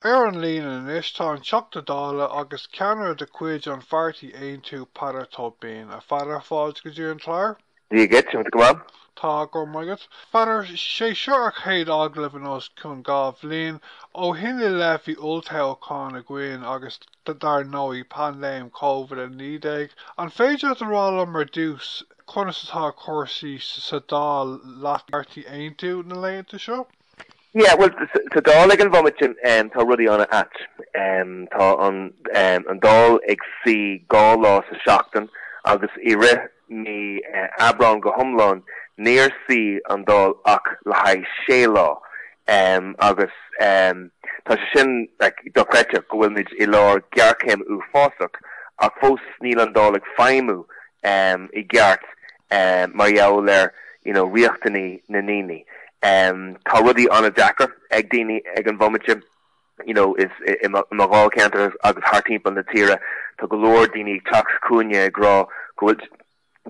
Ar an líne anois tá an Teachta Dála agus ceannaire de chuid an Pháirtí Aontú Peadar Tóibín. A Pheadair, fáilte go dtí an clár. Dia dhuit, an bhfuil tú go maith? Tá go maith agat. Pheadair, sé seo ár gcéad agallamh in os cionn dhá bhliain. Ó shin i leith bhí olltoghachán againn agus dar ndóigh paindéim Covid 19. An féidir leat a rá liom ar dtús conas atá cúrsaí sa Dáil le do Pháirtí Aontú na laethanta seo? Yeah, bhuel, sa Dáil ag an bhomaite tá rudaí ana ait. Tá an Dáil ag suí dhá lá sa tseachtain agus i rith mí Aibreán go hiomlán níor suí an Dáil ach le haghaidh sé lá agus tá sé sin dochreidte go bhfuilmid i lár gearchéim uafásach ach fós níl an Dáil ag feidhmiú i gceart. amh mar gheall ar you know riachtanaí na ndaoine. amh Tá rudaí an-deacair ag daoine ag an bhomaite you know is i mo i mo dháilcheantar agus thar timpeall na tíre tá go leor daoine ag teacht chugainne ag rá go bhfuil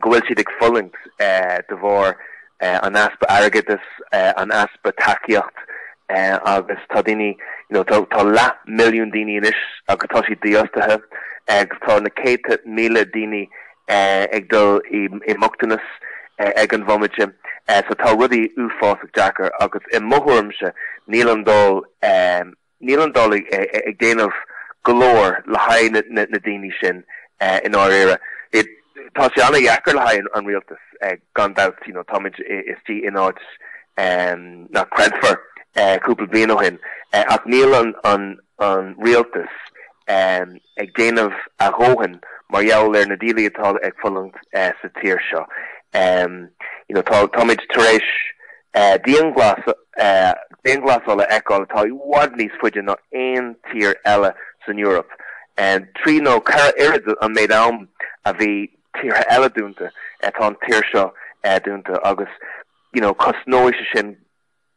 go bhfuil siad ag fulaingt eh de bharr eh an easpa airgeadas eh an easpa tacaíocht eh agus tá daoine you know tá tá leath milliún daoine anois agus tá siad dífhostaithe agus tá na céadta míle daoine ag dul i mbochtanas ag an bhomaite so tá rudaí uafásach deacair agus i mo thuairimse níl an Dáil níl an Dáil ag déanamh go leor le haghaidh na daoine sin i ndáiríre. Tá sé an-dheacair le haghaidh an rialtas gan dabht you know táimid istigh in áit nach creidfear cúpla bliain ó shin ach níl an rialtas ag déanamh a dhóthain mar gheall ar na díolaí atá ag fulaingt sa tír seo. You know, tá, táimid tar éis diangh, dianghlasáil a fheiceáil atá i bhfad níos faide ná aon tír eile san Eoraip. Trí nó ceithre oiread an méid am a bhí tíortha eile dúnta, tá an tír seo dúnta agus, you know, cosnóidh sé sin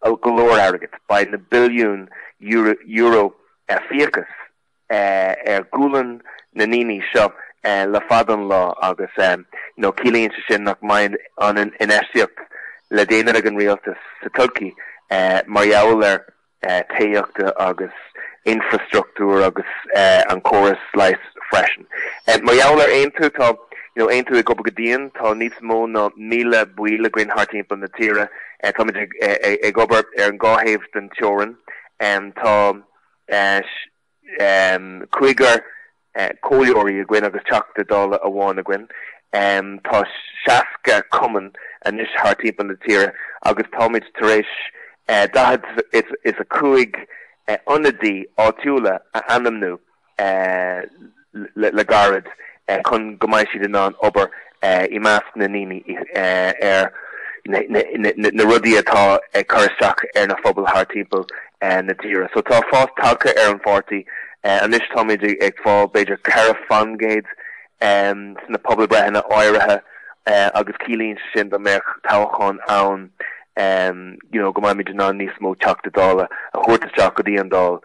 go leor airgid, beidh na billiúin euro fiachas ar ghualainn na ndaoine seo le fada an lá agus ciallaíonn sé sin nach mbeidh an infheistíocht le déanamh ag an rialtas sa todhchaí mar gheall ar tithíochta agus infreastruchtúr agus an córas leighis freisin. Mar gheall ar Aontú, tá Aontú ag obair go dian, tá níos mó ná míle baill againn thart timpeall na tíre, Táimid ag obair ar an dhá thaobh den teorainn. Tá cúigear comhairleoirí againn agus Teachta Dála amháin againn. Tá seasca cumann anois thar timpeall na tíre agus táimid tar éis daichead is a cúig ionadaí áitiúla a ainmniú. le gairid chun go mbeidh siad in ann obair i measc na ndaoine ar na rudaí atá ag cur isteach ar na phobail thar timpeall na tíre. So tá fás tagtha ar an pháirtí anois táimid ag fáil b'fhéidir ceithre fan gcéad ins na pobalbhreitheanna áirithe agus ciallaíonn sé sin dá mbeadh toghchán ann, you know, go mbeimid in ann níos mó Teachta Dála a thabhairt isteach go dtí an Dáil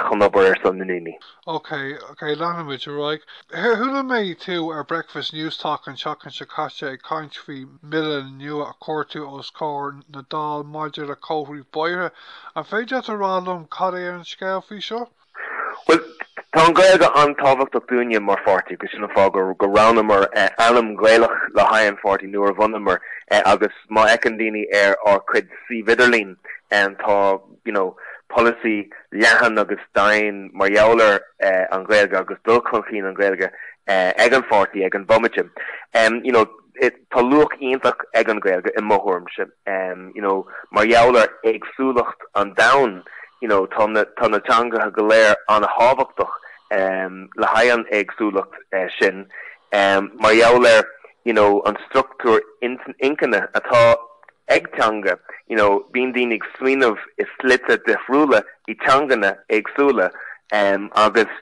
chun obair ar son na ndaoine. Ok, ok, leanfaimid ar aghaidh. Chuala mé tú ar Breakfast Newstalk an tseachtain seo caite ag caint faoi mBille nua a chuir tú os comhair na Dáil maidir le comharthaí bóithre. An féidir leat a rá liom cad é an scéal faoi seo? Bhuel, tá an Ghaeilge an-tábhachtach dúinne mar pháirtí agus sin an fáth go roghnaíomar ainm Gaelach le haghaidh an pháirtí nuair a bhunaíomar é agus má fhéachann daoine ar ár cuid suímh idirlín tá you know polasaí leathan agus daingean mar gheall ar an Ghaeilge agus dul chun cinn an Ghaeilge ag an pháirtí ag an bhomaite. You know, Tá luach iontach ag an Ghaeilge i mo thuairimse, you know, mar gheall ar éagsúlacht an domhain, you know, tá na, tá na teangacha go léir an-tábhachtach le haghaidh an éagsúlacht sin mar gheall ar, you know, an structúr intinne atá ag teanga, you know, bíonn daoine ag smaoineamh i slite difriúla, i dteanganna éagsúla agus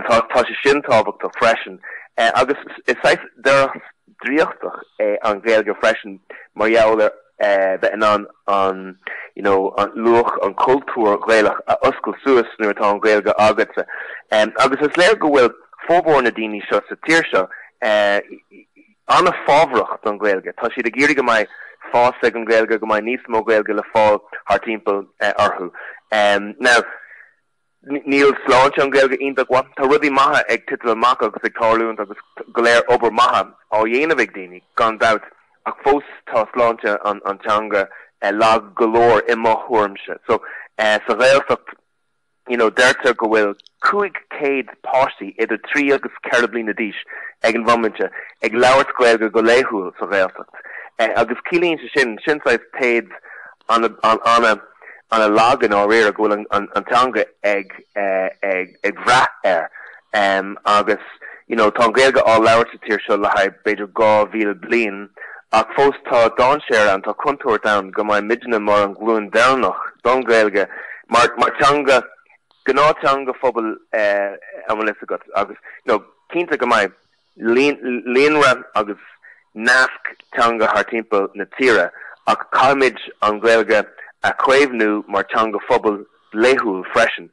tá sé sin tábhachtach freisin. Agus is saghas doras draíochtach é an Ghaeilge freisin mar gheall ar bheith in ann an, you know, an luach, an cultúr Gaelach a oscailt suas nuair atá an Ghaeilge agatsa. Agus is léir go bhfuil formhór na daoine seo sa tír seo, an-fhábhrach don Ghaeilge. Tá siad ag iarraidh go mbeidh fás ag an Ghaeilge, go mbeidh níos mó Gaeilge le fáil thar timpeall orthu. Now, níl sláinte an Ghaeilge iontach mhaith. Tá rudaí maithe ag titim amach agus ag tarlúint agus go leor obair maithe á dhéanamh ag daoine, gan dabht, ach fós tá sláinte an teanga lag go leor, i mo thuairimse. So, sa Ghaeltacht. You know, deirtear go bhfuil 500 páistí idir 3 agus 4 bliana d'aois ag an bhomaite ag labhairt Gaeilge go laethúil sa Ghaeltacht agus ciallaíonn sé sin, sin saghas téad an-lag i ndáiríre go bhfuil an teanga ag brath air. Um, agus, you know, tá an Ghaeilge á labhairt sa tír seo le haghaidh b'fhéidir 2,000 bliain, ach fós tá dáinséar ann, tá contúirt ann go mbeidh muidne mar an ghlúin deireanach don Ghaeilge mar, mar teanga, gnáth teanga phobail eh, an bhfuil fhios agat, agus, you know, cinnte go mbeidh, líonra agus nasc teanga thar timpeall na tíre ach caithfimid an Ghaeilge a chaomhnú mar teanga phobail laethúil freisin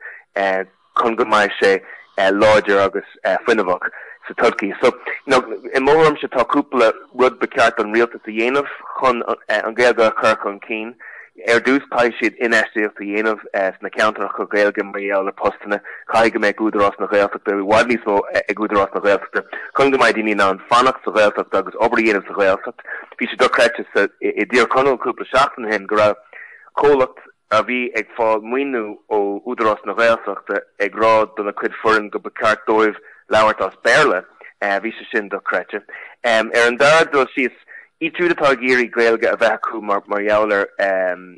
chun go mbeidh sé láidir agus fuinneamhach sa todchaí. So, i mo thuairimse tá cúpla rud ba cheart don rialtas a dhéanamh chun an Ghaeilge a chur chun cinn. Ar dtús, caithfidh siad infheistíocht a dhéanamh sna ceantracha Gaeilge mar gheall ar postanna. Caithfidh go mbeidh ag Údarás na Gaeltachta, i bhfad níos mó ag Údarás na Gaeltachta, chun go mbeidh daoine in ann fanacht sa Ghaeltacht agus obair a dhéanamh sa Ghaeltacht. Bhí sé dochreidte sa i dTír Chonaill cúpla seachtain ó shin go raibh comhlacht a bhí ag fáil maoiniú ó Údarás na Gaeltachta ag rá do na cuid foireann go ba ceart dóibh labhairt as Béarla. Bhí sé sin dochreidte. Ar an dara dul síos, iad siúd atá ag iarraidh Gaeilge a bheith acu mar mar gheall ar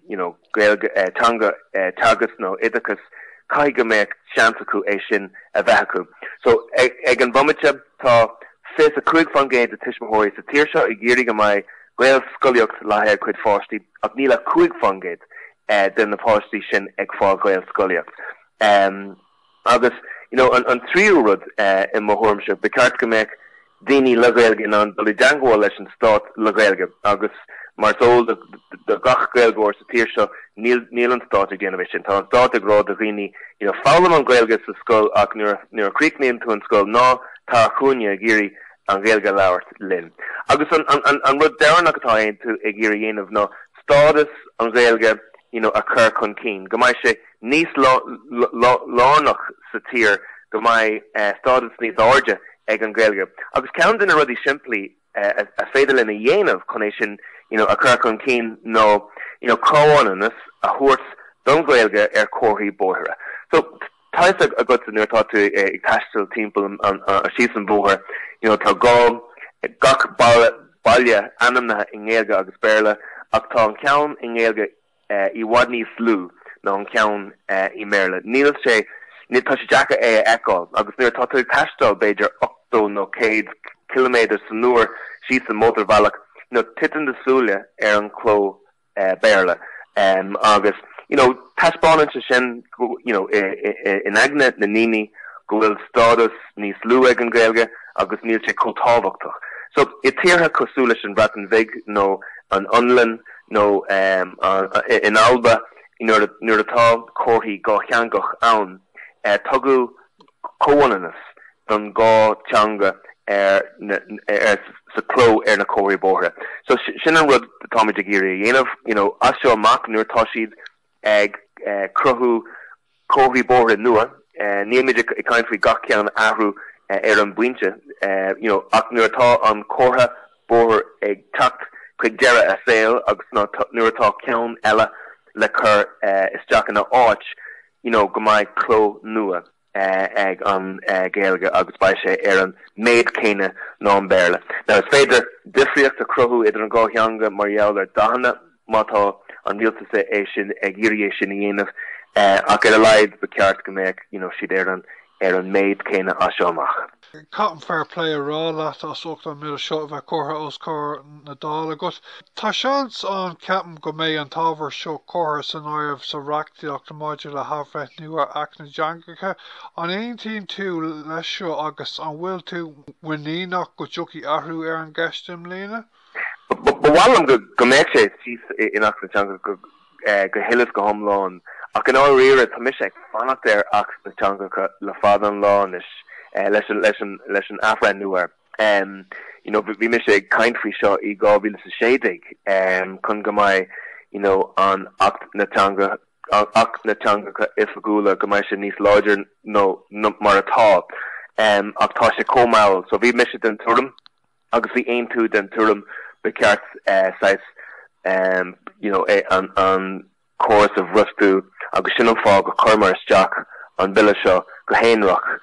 you know Gaeilge eh teanga eh teagasc nó oideachas caithfidh go mbeadh seans acu é sin a bheith acu. So ag ag an bhomaite tá 25% de tuismitheoirí sa tír seo ag iarraidh go mbeidh Gaelscolaíocht le haghaidh a gcuid pháistí ach níl ach 5% eh de na páistí sin ag fáil Gaelscolaíocht. Eh. Agus, you know, an tríú rud, i mo thuairimse, ba cheart go mbeadh daoine le Gaeilge in ann dul i dteangmháil leis an stát le Gaeilge agus mar is eol do gach Gaeilgeoir sa tír seo, níl an stát ag déanamh é sin. Tá an stát ag rá do dhaoine, you know, foghlaim an Ghaeilge sa scoil ach nuair a chríochnaíonn tú an scoil, ná tar chugainne ag iarraidh an Ghaeilge a labhairt linn. Agus an rud deireanach atá Aontú ag iarraidh a dhéanamh ná stádas an Ghaeilge, you know, a chur chun cinn, go mbeidh sé, níos lárnach sa tír go mbeidh stádas níos airde ag an Ghaeilge. Agus ceann de na rudaí simplí a féidir linn a dhéanamh chun é sin a chur chun cinn ná comhionannas a thabhairt don Ghaeilge ar chomharthaí bóithre. So, tá fhios agatsa nuair a tá tú ag taisteal timpeall síos an bóthar, tá gach baile ainmnithe i nGaeilge agus Béarla ach tá an ceann i nGaeilge i bhfad níos lú ná an ceann i mBéarla. Níl sé, tá sé deacair é a fheiceáil agus nuair atá tú ag taisteal b'fhéidir 80 nó 100 ciliméadar san uair síos an mótarbhealach, you know, titeann do súile ar an chló Béarla agus, you know, taispeánann sé sin, you know, in aigne na ndaoine go bhfuil stádas níos lú ag an Ghaeilge agus níl sé chomh tábhachtach. So i dtíortha cosúil leis an Bhreatain Bhig nó an Fhionlainn, nó in Alba nuair atá comharthaí dátheangach ann, tugadh comhionannas don dhá teanga sa cló ar na comharthaí bóithre. So sin an rud atáimid ag iarraidh a dhéanamh as seo amach nuair atá siad ag cruthú comharthaí bóithre nua, níl muid ag caint faoi gach ceann a athrú ar an bpointe, you know, ach nuair atá an comhartha bóthair ag teacht chuig deireadh a saoil agus nuair atá ceann eile le cur isteach ina áit, you know, go mbeidh cló nua. ag an Ghaeilge agus beidh sé ar an méid céanna ná an Béarla. Now is féidir difríocht a chruthú idir an dhá theanga mar gheall ar dathanna, má tá an rialtas é sin ag iarraidh é sin a dhéanamh, ach ar a laghad ba cheart go mbeadh, you know, siad ar an, ar an méid céanna as seo amach. Caithim fair play a rá leat as ucht an méid seo a bheith curtha os comhair na Dála agat. Tá seans ann, ceapaim, go mbeidh an t-ábhar seo curtha san áireamh sa reachtaíocht maidir le hAthbhreithniú ar Acht na dTeangacha. An aontaíonn tú leis seo agus an bhfuil tú muiníneach go dtiocfaidh athrú ar an gceist i mbliana? Ba mhaith liom go mbeidh sé thíos in Acht na dTeangacha go huile is go hiomlán, ach i ndáiríre tá mise ag fanacht ar Acht na dTeangacha le fada an lá anois leis an athbhreithniú air. You know bhí mise ag caint faoi seo i 2016 chun go mbeidh you know an Acht na Teangacha Acht na dTeangacha Oifigiúla go mbeidh sé níos láidir nó mar atá ach tá sé chomh mall so bhí mise den tuairim Agus bhí Aontú den tuairim, ba cheart saghas, you know, an córas a bhrostú agus sin an fáth go cuireamar isteach an Bille seo go haonarach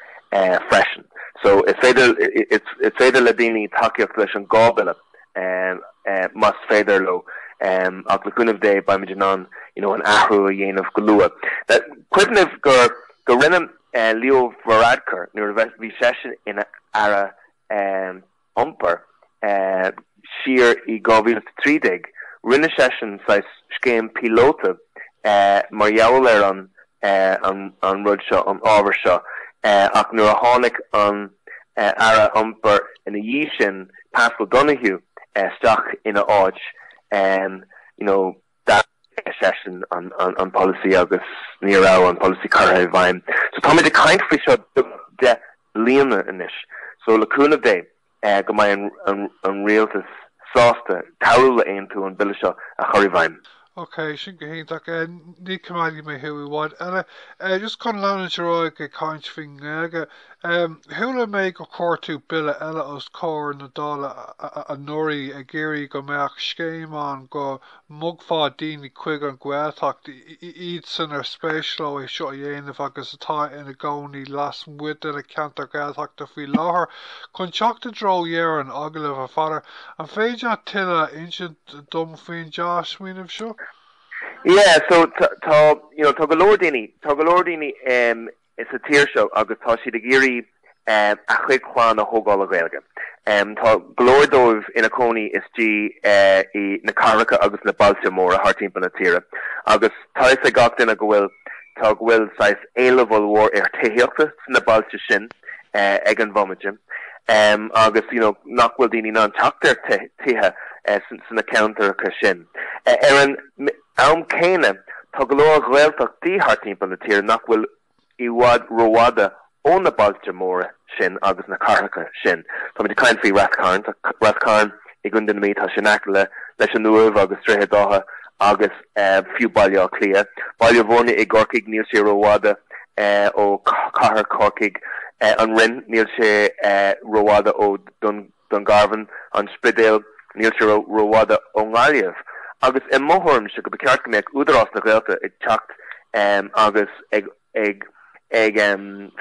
freisin. So, is féidir, is féidir le daoine tacaíocht leis an dhá Bhille más féidir leo ach le cúnamh Dé beimid in ann, you know, an athrú a dhéanamh go luath. Cuimhnigh go rinne Leo Varadkar, nuair a bhí seisean ina Aire iompair. Siar i 2013 rinne seisean saghas scéim píolóta mar gheall ar an rud seo, an ábhar seo, ach nuair a tháinig an Aire Iompair ina dhiaidh sin, Paschal Donohoe, isteach ina áit, you know, Stad seisean an polasaí agus ní raibh an polasaí curtha i bhfeidhm. So táimid ag caint faoi seo de bhlianta anois. So le cúnamh Dé, go mbeidh an rialtas sásta cabhrú le Aontú an bille seo a chur i bhfeidhm. Ok, sin go hiontach. Ní coimeádfaidh mé thú i bhfad eile. Just chun leanúint ar aghaidh ag caint faoin nGaeilge. Chuala mé gur chuir tú bille eile os comhair na Dála anuraidh ag iarraidh go mbeadh scéim ann go mbogfá daoine chuig an nGaeltacht, iad san ar spéis leo é seo a dhéanamh agus atá ina gcónaí lasmuigh de na ceantair Ghaeltachta faoi láthair, chun teacht i dtreo dheireadh an agallaimh, a Pheadair. An féidir leat tuilleadh a insint dom faoin dea-smaoineamh seo? Yeah, so tá, you know, tá go leor daoine, tá go leor daoine, em. sa tír seo agus tá siad ag iarraidh a gcuid clann a thógáil le Gaeilge. Tá go leor díobh ina gcónaí istigh i na cathracha agus na bailte móra thart timpeall na tíre agus tá a fhios ag gach duine go bhfuil tá go bhfuil saghas éileamh ollmhór ar tithíochta sna bailte sin ag an mbomaite agus you know, nach bhfuil daoine in ann teacht ar tithe sna ceantracha sin. Ar an am céanna, tá go leor Gaeltachtaí thart timpeall na tíre nach bhfuil i bhfad rófhada ó na bailte móra sin agus na cathracha sin. Táimid ag caint faoi Rath Cairn. Tá Rath Cairn i gContae na Mí, tá sé in aice leis an Uaimh agus Droichead Átha agus fiú Baile Átha Cliath. Baile Bhuirne i gCorcaigh, níl sé rófhada ó chathair Chorcaigh. An Rinn, níl sé rófhada ó Dún. Dungarvan, An Spidéal, níl sé rófhada ón nGaillimh, agus i mo thuairimse gur cheart go mbeadh Údarás na Gaeltachta ag teacht agus ag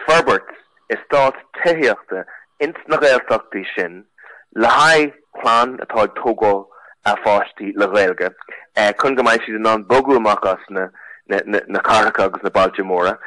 forbairt estáit tithíochta ins na Gaeltachtaí sin le haghaidh clann atá ag tógáil a páistí le Gaeilge chun go mbeidh siad in ann bogadh amach as na cathracha agus na bailte móra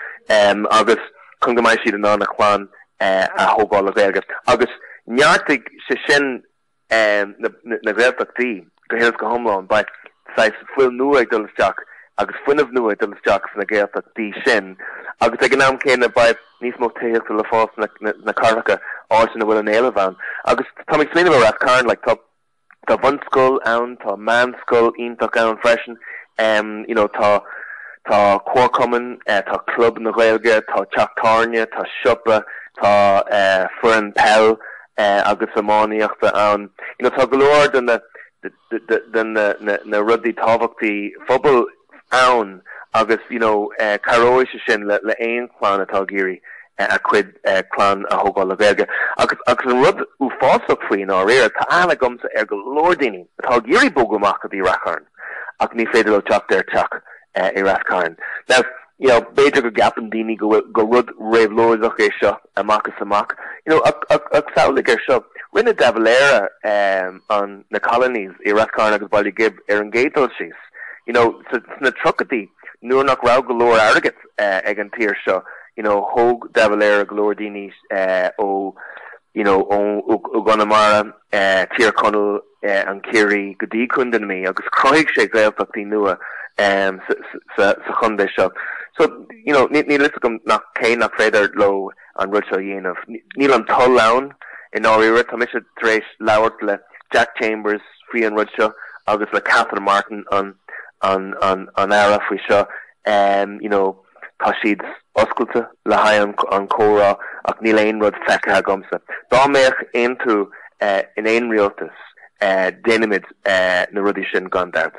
agus chun go mbeidh siad in ann a clann a thógáil le Gaeilge, agus neartóidh sé sin na Gaeltachtaí go huile is go hiomlán. Beidh saghas fuil nua ag dul isteach agus fuinneamh nua ag dul isteach sna Gaeltachtaí sin, agus ag an am céanna beidh níos mó tithíochta le fáil sna cathracha, áit ina bhfuil an t-éileamh ann. Agus tá mé ag smaoineamh ar Rath Cairn, like, tá. Tá bunscoil ann, tá meánscoil iontach ann freisin, you know tá tá comharchumann, tá club na Gaeilge, tá teach tábhairne, tá siopa, tá foireann peile agus iománaíochta ann. You know tá go leor de na de na rudaí tábhachtaí phobail. ann agus you know cabhróidh sé sin le haon chlann atá ag iarraidh a cuid clann a thógáil le Gaeilge agus an rud uafásach faoi i ndáiríre tá aithne agamsa ar go leor daoine atá ag iarraidh bogadh amach go dtí Rath Cairn ach ní féidir leo teacht ar teach i Rath Cairn now you know b'fhéidir go gceapann daoine go bhfuil gur rud réabhlóideach é seo amach is amach. You know, ag, ag, ag samhlaigh ar seo, rinne De Valera na Colonies i Ráth Chairn agus Baile Ghib ar an gcéad dul síos, you know, sa, sna tríochaidí, nuair nach raibh go leor airgid ag an tír seo, you know, thóg De Valera go leor daoine ó, you know, ó, ó, ó gConamara, Tír Chonaill, an Ciarraí go dtí Contae na Mí agus chruthaigh sé Gaeltachtaí nua sa chontae seo. So, you know, níl a fhios agam nach cén nach féidir leo an rud seo a dhéanamh. Níl an toil ann i ndáiríre. Tá mise tar éis labhairt le Jack Chambers faoi an rud seo agus le Catherine Martin an Aire faoi seo, you know, Tá siad oscailte le haghaidh an chomhrá ach níl aon rud feicthe agamsa. Dá mbeadh Aontú in aon rialtas déanfaimid na rudaí sin gan dabht.